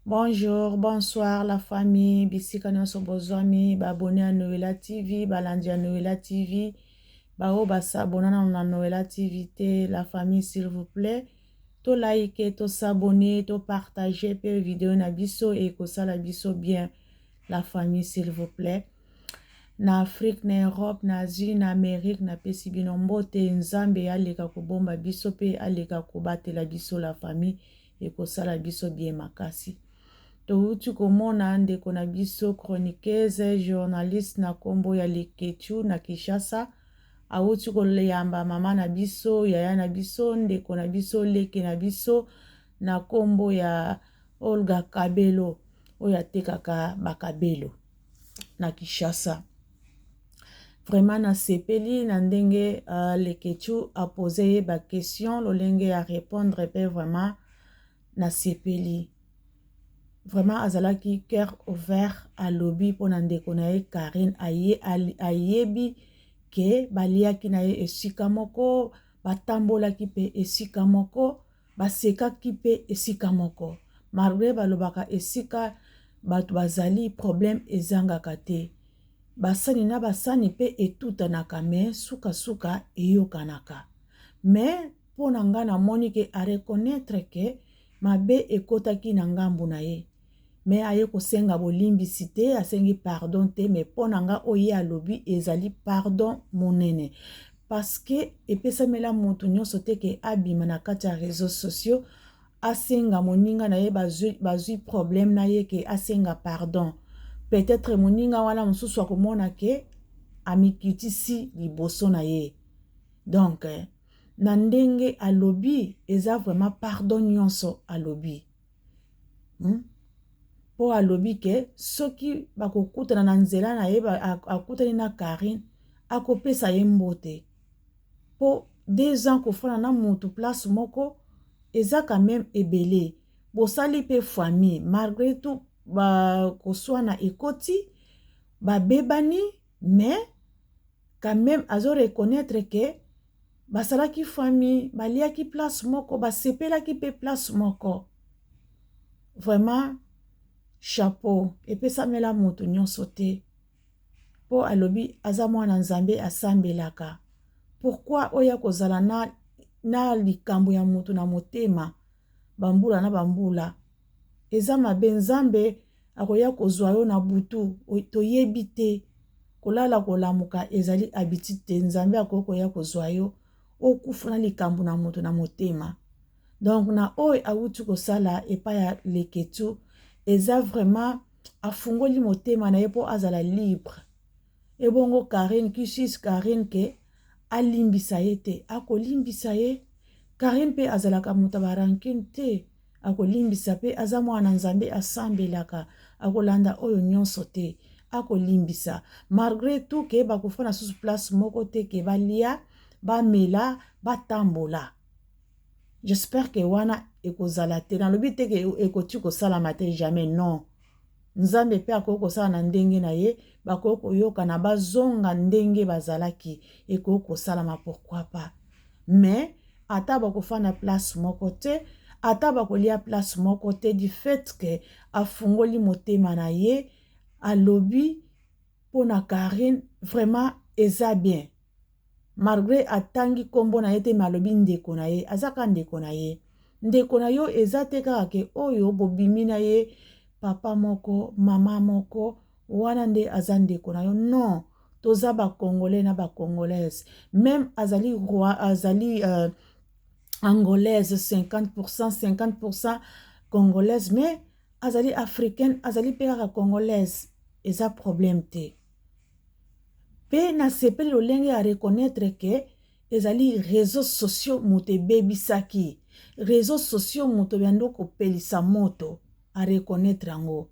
Bonjour, bonsoir la famille, bisika nionso bozwami, ba abonne ya Noela TV, balandi ya Noela TV, ba oyo ba s'abonna nanu na Noela TV te, la famille s'il vous plaît, to like, to s'abonner, to partager pe video na biso et ekosala biso bien, la famille s'il vous plaît. Na Afrique, na Europe, na Asie, na Amérique, napesi bino mbote, Nzambe aleka kobomba biso pe aleka kobatela biso la famille. ekosala biso bien makasi towuti komona ndeko na biso chroniqueuse journaliste na kombo ya Leketchou na Kinshasa awuti koyamba mama na biso yaya na biso ndeko na biso leke na biso na kombo ya Olga Kabelo oyo atekaka bakabelo na Kinshasa Vraiment nasepeli na ndenge uh, Leketchou a poser ye ba question lolenge ya répondre pe vraiment nasepeli. Vraiment azalaki cœur ouvert alobi mpo na ndeko na ye Karine aye, ayebi ke baliaki na ye esika moko batambolaki pe esika moko Basekaki mpe esika moko. Malgre balobaka esika bato bazali problème ezangaka te. Basani na basani mpe etutanaka mais suka suka eyokanaka. Mais mpo na nga namoni ke a reconnaitre ke mabe ekotaki na ngambu na ye. mais aye kosenga bolimbisi te asengi pardon te mais mpo na nga oyo ye alobi ezali pardon monene parce que epesamela moto nyonso te ke abima na kati ya réseaux sociaux asenga moninga na ye bazwi, bazwi problème na ye ke asenga pardon peut-être moninga wana mosusu akomona ke amikitisi liboso na ye donc na ndenge alobi eza vraiment pardon nyonso alobi hmm? mpo alobi ke soki bakokutana na nzela na ye akutani na karine akopesa ye mbote mpo deux ans kofana na motu place moko eza quand même ebele bosali mpe famille malgré tout bakoswana ekoti babebani mais quand même azo reconnaître ke Bazalaki famille, baliaki place moko, basepelaki pe place moko. Vraiment chapeau epesamela mutu nionso te. Po alobi aza mwana Nzambe asambelaka. Pourquoi oya kozala na na likambo ya mutu na motema ba mbula na ba mbula? eza mabe nzambe akoya kozua yo na butu toyebi te kolala kolamuka ezali habitude te nzambe akoki koya kozua yo okufa na likambo na moto na motema donc na oyo awuti kosala epai ya leketu eza vraiment afungoli motema na ye mpo azala libre Ebongo Carine qui suis Carine que alimbisa ye te akolimbisa ye Carine pe azalaka moto ba rancune te akolimbisa pe aza mwana nzambe asambelaka akolanda oyo nyonso te akolimbisa malgre tout ke bakofana susu place moko te ke balia bamela batambola j'espère ke wana ekozala te nalobi te ke ekoti kosalama te jamais non Nzambe mpe akoki kosala na ndenge na ye, bakoki koyokana bazonga ndenge bazalaki, ekoki kosalama pourquoi pas. Mais ata bakofanda place moko te, ata bakolia place moko te du fait que afungoli motema na ye, alobi mpo na Carine vraiment eza bien. Malgre atangi kombo naye te mais alobi ndeko naye aza kaka ndeko naye ndeko nayo eza te kaka ke oyo bobimi naye papa moko maman moko wana nde aza ndeko nayo non toza ba congolais na ba congolaise meme azali roi azali euh, angolaise 50% 50% congolaise mais azali africaine azali pe kaka congolaise eza problème te Pe na sepeli lolenge a reconnaitre que ezali reseaux sociaux moto ebebisaki. Reseaux sociaux moto bando kopelisa moto a reconnaitre yango.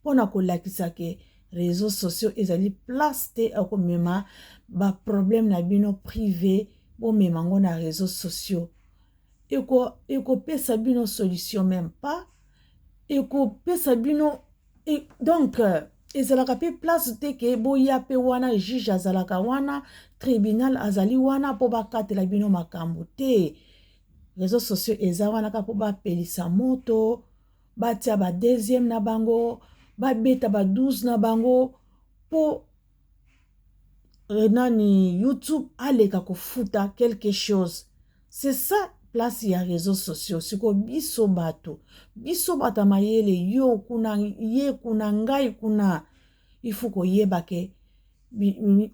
Pona kolakisa que reseaux sociaux ezali place te ya komema ba problème na bino prive bomema yango na reseaux sociaux ekopesa bino solution meme pas ekopesa bino Et donc, euh, ezalaka mpe place te ke boya mpe wana juge azalaka wana tribunal azali wana mpo bakatela bino makambo te réseau sociaux eza wana kaka mpo bapelisa moto batia ba deuxième na bango babeta ba 12 na bango mpo euh, nani youtube aleka kofuta quelque chose c'est ça place ya réseaux sociaux siko biso bato biso bato ya mayele yo kuna ye kuna ngai kuna ifu koyeba ke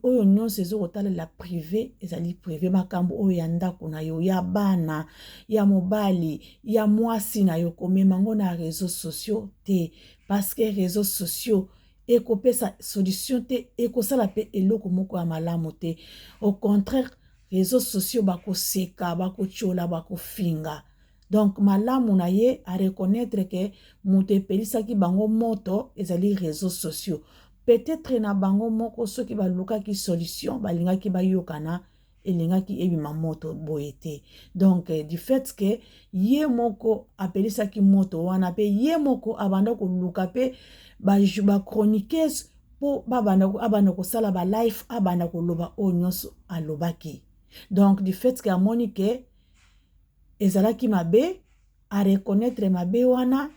oyo nyonso ezo kotalela prive ezali prive makambo oyo ya ndako na yo ya bana ya mobali ya mwasi na yo komema yango na réseaux sociaux te parce que réseaux sociaux ekopesa solution te ekosala pe eloko moko ya malamu te au contraire réseaux sociaux bakoseka bakotyola bakofinga donc malamu na ye areconnaitre ke moto epelisaki bango moto ezali réseaux sociaux peut-être na bango moko soki balukaki solution balingaki bayokana elingaki ebima moto boye te donc du fait que ye moko apelisaki moto wana mpe ye moko abanda koluka mpe bachroniqueuse ba mpo abanda kosala balife abanda koloba oyo nyonso alobaki donc du fait que amoni ke ezalaki mabe areconnaitre mabe wana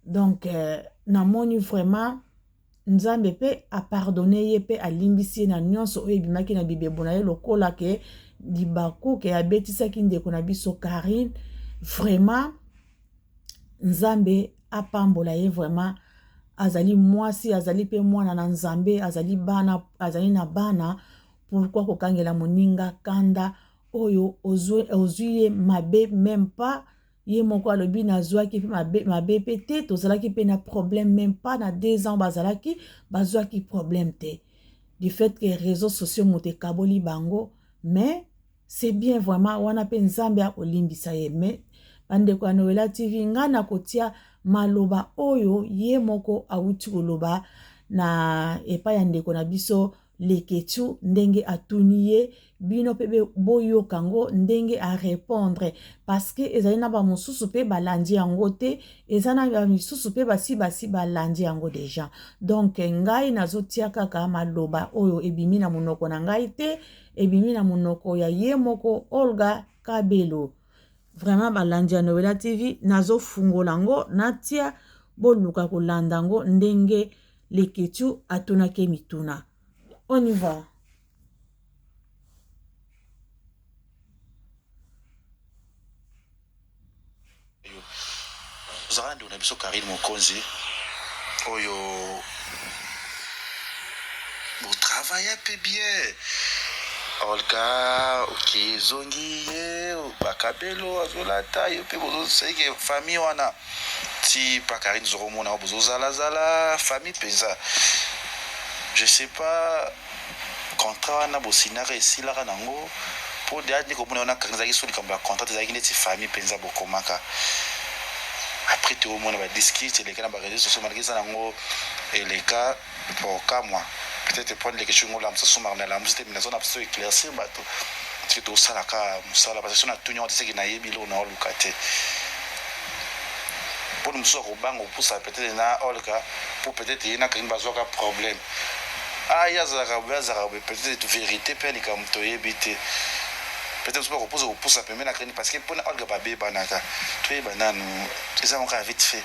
donc euh, namoni vraiment Nzambe pe a pardonne ye pe alimbisi ye na nionso oyo ebimaki na bibebo na ye lokola ke libaku ke abetisaki ndeko na biso Carine vraiment Nzambe apambola ye vraiment azali mwasi azali pe mwana na Nzambe azali bana azali na bana pourquoi kokangela moninga kanda oyo ozui ye mabe meme pas ye moko alobi nazwaki mpe mabe, mabe mpe te tozalaki mpe na problème même pas na deux ans bazalaki bazwaki problème te du fait que réseaux sociaux moto ekaboli bango mais c'est bien vraiment wana mpe nzambe akolimbisa ye mais bandeko ya noela tv ngai nakotia maloba oyo ye moko awuti koloba na epai ya ndeko na biso Leketshou ndenge atuni ye bino pe boyoka ngo ndenge a repondre parce que ezali na ba mususu pe balandi yango te eza na ba misusu pe basi basi balandi yango deja donc ngai nazotia kaka maloba oyo ebimi na monoko na ngai te ebimi na monoko ya ye moko Olga Kabelo vraiment balandi ya Noela TV nazofungola ngo natia boluka kolanda ngo ndenge Leketshou atunaki ye mituna. On y va. tozalaka ndeko na biso karine mokonzi oyo botravaya mpe bien olga oke ezongi ye bakabelo azolata yo mpe bozoseke famille wana ti pa Carine zoko mona yo bozo zala zala famille penza je sais pas contrat wana bo signaka esilaka nango po deja nde komona yo na Carine ezalaki so likambo ya contrat te ezalaki neti famille penza bokomaka après to mona ba disque ti eleka na ba reseaux sociaux malgré eza nango eleka Bokamwa peut etre point leke chungo la musa sumar na la musa te mina zona biso eclaircir bato tike to sala ka musala parce que sona tuni yango tiseki na yebi lo na oluka te poni musu ko banga opusa peut etre na olka pour peut etre yena kangi bazwa ka problème ah ya zala ka bwa zala ka peut etre vérité pe lika muto yebi te peut etre musu ko pusa opusa pembe na kangi parce que pona olka ba beba naka to yeba nanu ezango ka vite fait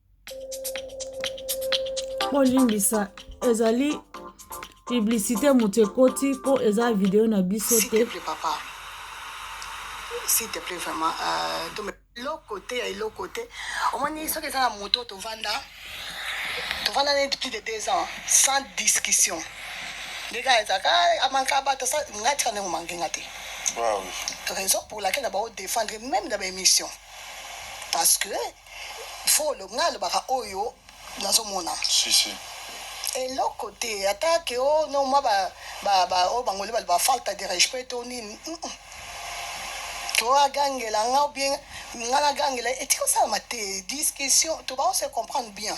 bolimbisa ezali publicité moto ekoti mpo eza video na biso te s'il te plaît vraiment euh, eloko te ya eloko te omoni soki eza na moto tovanda tovanda neti plus de deux ans sans discussion ndenge ezaka ah, amanka bato nga tika ndenge omanke nga te raison pour laquelle na bao défendre même na baémission parce que folo nga alobaka oyo nazo mona si si eloko te ata ke o oh, no mwa ba ba ba o oh, bangole baloba falta de respect to nini to agangela nga ou bien nga nagangela etikosala ma te discussion to ba se comprendre bien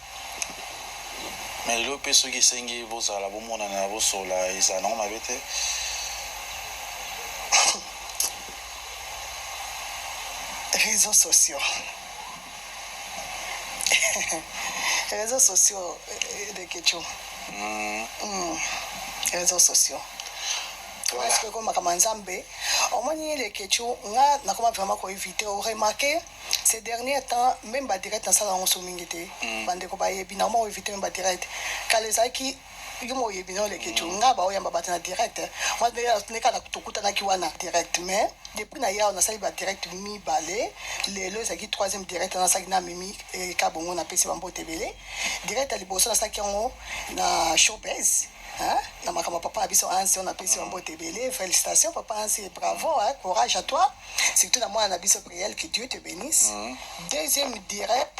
mais lelo mpe soki esengi bozala bomonana bosolola ezala nango mabe te réseaux sociaux réseaux sociaux euh, de kecho mm. mm. réseaux sociaux soki ekomaka ma nzambe omoni lekechu nga nakoma vraiment koevite oremarke Ces derniers temps meme ba direct na sala yango so mingi te ba ndeko ba yebi na mo eviter meme ba direct kala ezalaki yo mo yebi no leke tu nga ba oyamba bato na direct eh. moi ne kala tokutanaki wana direct mais depuis na yao nasali ba direct mibale lelo ezalaki troisième direct na saki na mimi eh, kabongo na pesi bambote ebele direct ya liboso nasaki yango na showbiz Hein? na makambo ya papa na biso ansi oyo napesi bambote ebele félicitation papa ansi bravo hein? courage à toi Surtout na mwana na biso Priel que Dieu te benisse. Deuxième direct.